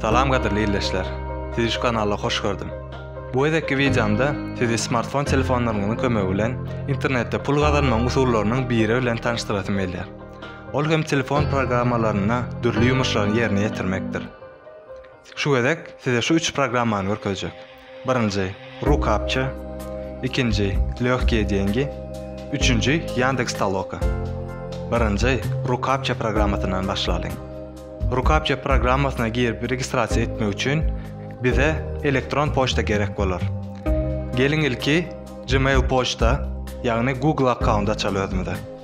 Salam gadyrly ildeşler. Sizi şu kanala hoş gördüm. Bu gezekki wideomda sizi smartfon telefonlaryňyzyň kömegi bilen internetde pul gazanmagyň usullarynyň biri bilen tanyşdyrasym gelýär. Ol hem telefon programmalaryna dürli ýumuşlary ýerine ýetirmekdir. Şu gezek size şu üç programmany görkezjek. Birinji, Rukapça, ikinji, Lehkiye dengi, üçünji, Yandex Toloka. Birinji, Rukapça programmasyndan başlalyň. Rukapça programmasyna girip registrasiýa etmek üçin bize elektron poçta gerek bolar. Geliň ilki Gmail poçta, ýagny Google akkaunt açaly özümize.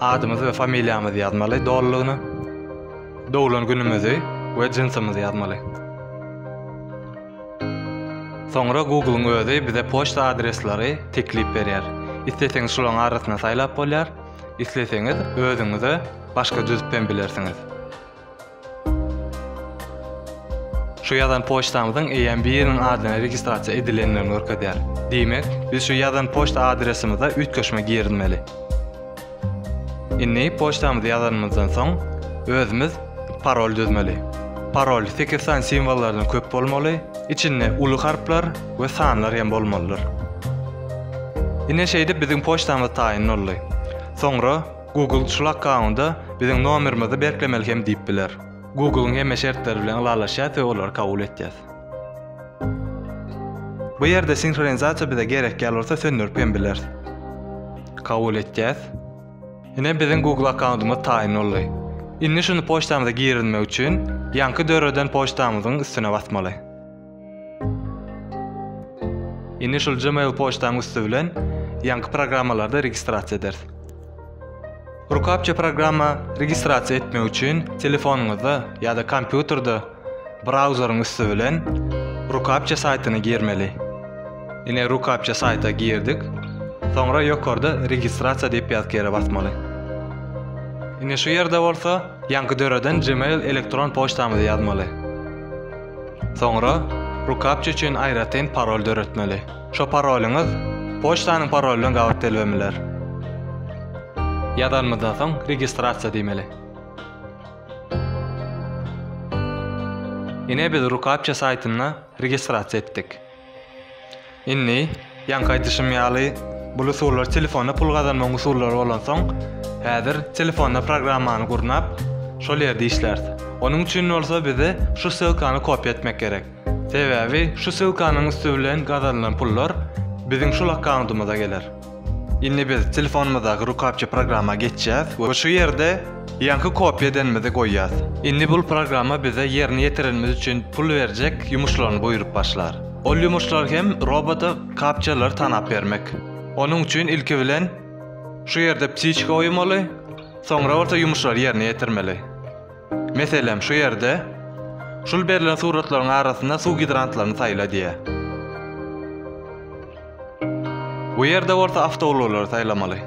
Adymyzy we familiýamyzy ýazmaly dolulygyna. Doglan günümizi we jynsymyzy ýazmaly. Soňra Google-yň özi bize poçta adresleri teklip berýär. Isleseňiz şolaryň arasyna saýlap bolýar, isleseňiz özüňize başga düzüp hem bilersiňiz. Şu ýazan poçtamyzyň eýýäm biriniň adyna registrasiýa edilendigini görkezýär. Diýmek, biz şu ýazan poçta adresimize üýtgeşme girizmeli. Indi poçtamyzy ýazanymyzdan soň, özümiz parol düzmeli. Parol sekiz sany simwollardan köp bolmaly, içinde uly harplar we sanlar hem bolmalydyr. Ine şeýdip biziň poçtamyz taýyn boldy. Soňra Google şul akkaunda biziň nomerimizi berklemeli hem diýip biler. Google-yň hemme şertleri bilen ylalaşýas we olary kabul etýäs. Bu ýerde sinhronizasiýa bize gerek ýaly bolsa söndürip hem bileris. Kabul etýäs. Ine biziň Google akkaundymyz taýyn boldy. Indi şuny poçtamyza girizmek üçin ýaňky döreden poçtamyzyň üstüne basmaly. Indi şul Gmail poçtaň üsti bilen ýaňky programmalarda registrasiýa ederis. Rukapça programma registrasiýa etmek üçin telefonyňyzda ýa-da kompýuterde brauzeriň üsti bilen Rukapça saýtyna girmeli. Ine Rukapça saýta girdik. Soňra ýokarda registrasiýa diýip ýazk ýere basmaly. Ine şu ýerde bolsa ýaňky döreden Gmail elektron poçtamyzy ýazmaly. Soňra rukapça üçin aýratyn parol döretmeli. Şo parolyňyz poçtanyň parolyna gabat gelbemeler. Ýazanymyzdan soň registrasiýa diýmeli. Ine biz rukapça saýtynda registrasiýa etdik. Indi, ýaňky aýdyşym ýaly, bul usullar telefonda pul gazanmagyň usullary bolansoň, häzir telefonda programmany gurnap, şol ýerde işläris. Onuň üçin bolsa bize şu ssylkany kopiýa etmek gerek. Sebäbi şu ssylkanyň üsti bilen gazanylan pullar biziň şul akkauntymyza geler. Indi biz telefonymyzdaky rukapça programma geçýäs we şu ýerde ýaňky kopýa edenimizi goýýas. Indi bul programma bize ýerine ýetirenimiz üçin pul berjek ýumuşlaryny buýrup başlar. Ol ýumuşlar hem robota kapçalary tanap bermek. Onuň üçin ilki bilen şu ýerde ptiçka goýmaly, soňra bolsa ýumuşlary ýerine ýetirmeli. Meselem, şu ýerde Şul berlen suratlaryň arasynda suw gidrantlaryny saýla diýýär. Bu ýerde bolsa awtoulaglary saýlamaly.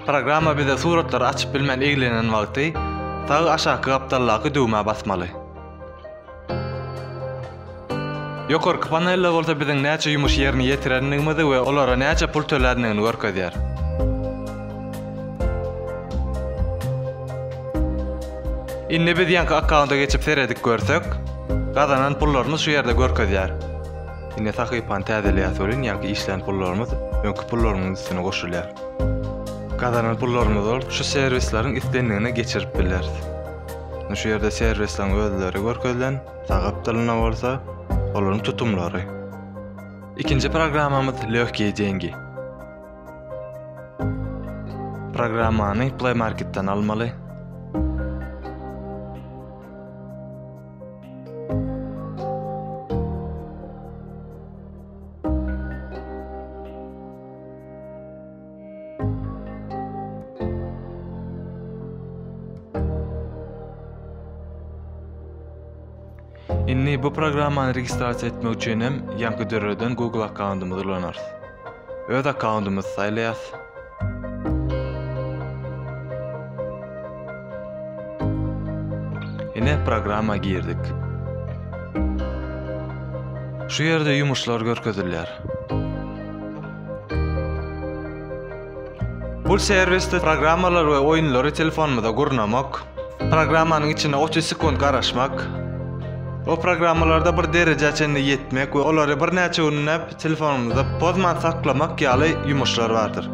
Programma bize suratlary açyp bilmän eglenen wagty sag aşaky gapdaldaky düwmä basmaly. Ýokarky panelde bolsa biziň näçe ýumuş ýerini ýetirendigimizi we olara näçe pul töländigini görkezýär. Indi biz ýanky akkaunta geçip seredip görsek, gazanan pullarymyz şu ýerde görkezýär. Indi sahypany täzeleýäs welin ýanky işlän pullarymyz öňki pullarymyň üstüne goşulýar. Gazanan pullarymyzy şu serwisleriň islendigine geçirip bileris. Indi şu ýerde servisleriň özleri görkezilen, sagap dilinde bolsa olaryň tutumlary. Ikinji programmamyz Lehkiye dengi. Programmany Play Marketden almaly. Indi bu programmany registrasiýa etmek üçin hem ýaňky döreden Google akkauntymyzy ulanarys. Öz akkauntymyzy saýlaýarys. Ine programma girdik. Şu ýerde ýumuşlar görkezilýär. Bu serwisde programmalary we oýunlary telefonymyza gurnamak, programmanyň içine 30 sekunt garaşmak, o programmalarda bir derejä çenli ýetmek we olary birnäçe günläp telefonymyzda pozman saklamak ýaly ýumuşlar bardyr.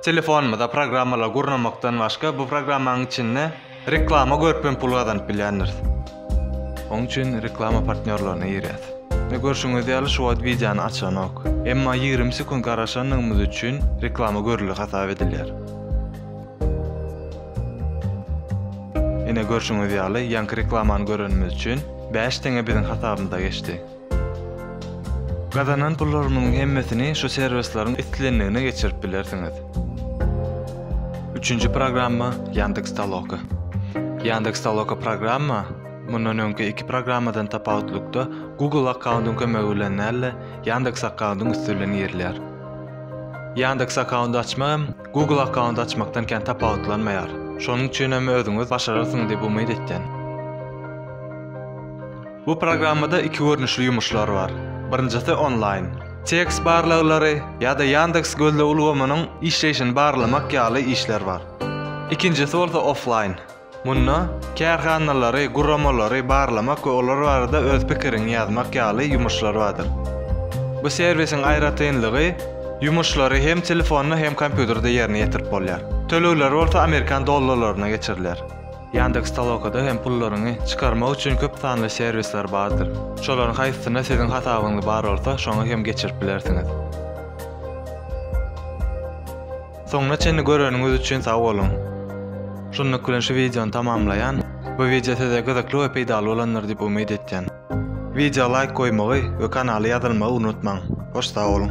Telefonymyza programmalary gurnamakdan başga bu programmanyň içinde reklama görüp hem pul gazanyp bilýändiris. Oň üçin reklama partnýorlaryna girýäs. Ine görşüňiz ýaly şu wagt wideony açanok. Emma ýigrimi sekunt garaşandygymyz üçin reklama görüldi hasap edilýär. Ine görşüňiz ýaly ýaňky reklamany görenimiz üçin bäş teňe biziň hasabymyza geçdi. Gazanan pullaryňyzyň hemmesini şu servisleriň islendigine geçirip bilersiňiz. Üçünji programma Yandex Taloka. Yandex Taloka programma mundan öňki iki programmadan tapawutlykda Google akkaundyň kömegi bilen däl-de, Yandex akkaundyň üsti bilen girilýär. Yandex akkaundy açmak hem Google akkaundy açmakdan kän tapawutlanmaýar. Şonuň üçin hem özüňiz başararsyňyz diýip umyt etýän. Bu programmada iki görnüşli ýumuşlar bar. Birinjisi onlaýn. Tekst barlaglary ýa-da Ýandeks gözleg ulgamynyň işleýşini barlamak ýaly işler bar. Ikinjisi bolsa oflaýn. Munda kärhanalary, guramalary barlamak we olar barada öz pikiriňi ýazmak ýaly ýumuşlar bardyr. Bu serwisiň aýratynlygy, ýumuşlary hem telefonda hem kompýuterde ýerine ýetirip bolýar. Tölegler bolsa amerikan dollarlaryna geçiriler. Ýandeks.Toloka-da hem pullaryňy çykarmak üçin köp sanly serwisler bardyr. Şolaryň haýsysyna siziň hasabyňyz bar bolsa, şoňa hem geçirip bilersiňiz. Soňuna çenli göreniňiz üçin sag boluň! Şunluk bilen şu wideony tamamlaýan. Bu wideo size gyzykly we peýdaly bolandyr diýip umyt etýän. Wideoa laýk goýmagy we kanala ýazylmagy unutmaň! Hoş sag boluň!